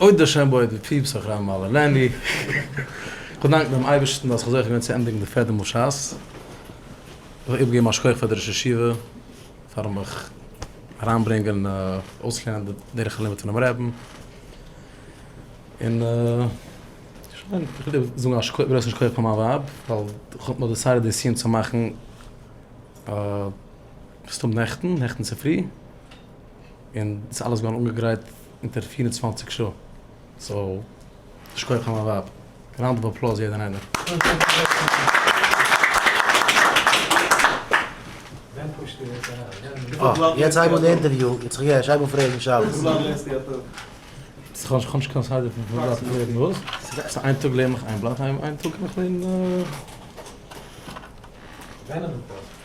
אוי דער שם בויעט די פיפס אויף ר' מאיר לענדי. כ'וויל דאנקן דעם אייבערשטן אז כ'האב זוכה געווען צו ענדיגן די פערדע מאל שס. כ'וויל אויך איבערגעבן א שכח פאר די ראש ישיבה פארן מיך אריינברענגען און אויסלערנען די דרך הלימוד פונעם רעבן. און שוין, כ'וויל אויך זאגן א גרויסן שכח פאר מיין ווייב ווייל כ'האב נאך דעסיידעד די סיום צו מאכן ס'טאג נעכטן, נעכטן צופרי. און ס'איז אלעס געווארן אנגעגרייט אונטער פֿיר און צוואַנציק שעה, סאו יישר כח פאר מיין ווייב, ראונד אוו אפלאוז יעדער און איינער.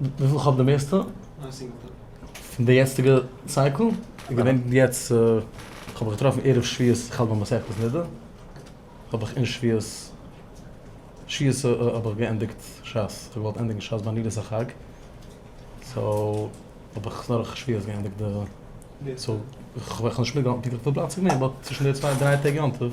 וויפיל איך האב די מערסטע? א סינגעל. פון די יעצטיגע סייקל איז געווען יעצט כ'האב מיך געטראפן ערב שביעות איך האלט ביי מסכת נדה האב איך אין שביעות שביעות האב איך געענדיגט שס כ'האב געוואלט ענדיגן שס ביי נילוס החג סאו האב איך דורך שביעות געענדיגט די סאו כ'האב נישט מיטגעהאלטן פונקטליך וויפיל בלאט ס'איז געווען באט צווישן די צוויי דריי טעג יום טוב.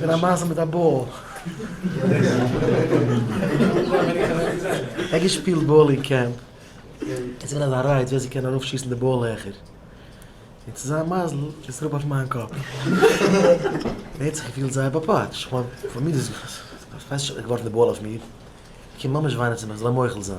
בין א מייזל מיט א באל. כ'האב געשפילט באל אין קעמפ. עס איז געווען אזא רייד ווער ס'קען ארויפשיסן די באל העכער. און צו זיין מזל איז עס אראפ אויף מיין קאפ. מען האט זיך געפילט זייער באפאטשט. כ'מיין, פאר מיר איז עס געווארפן די באל אויף מיר. כ'קען ממש וויינען צו מיך זאל ער מוחל זיין.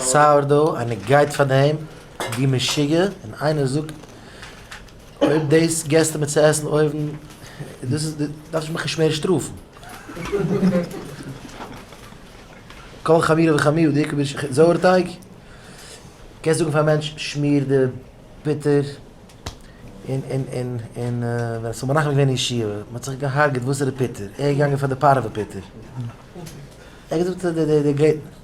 סאוער דאו איינער גייט פאר דעם ווי משוגע און איינער זאגט אויב דאס געסטו מיר צו עסן אויבן דאס איז דארפסטו מיך נישט מער שטראפן. כל חמירא וחמירא די עיקר זויער טייג קענסט זאגן פאר א מענטש שמיר די פוטער און און און און ווען עס האבן מנחם געווען אין ישיבה מען האט זיך געהארגעט וואסערע פוטער ער איז געגאנגען פאר די פארעווע פוטער ער האט געזאגט די די די.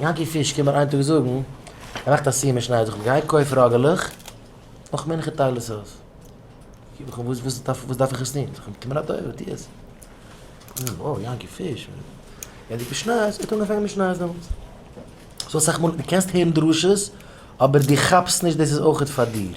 יענקי פיש קומט מיר איין טאג זאגן, ער מאכט א סיום אין שניידער, איך גיי קויף ראגעלעך, נאך מנחה טייל עס אויס. וואס דארף איך עס טון? זאג איך, טו מיר א טובה, טו עס. וואו, יענקי פיש? ער זאגט, די שניי, ער האט אנגעפאנגען מיט שניי דעמאלטס. סאו אסאך מאל, דו קענסט הערן דרשות, אבער דו כאפסט נישט דאס איז אויך פאר דיר.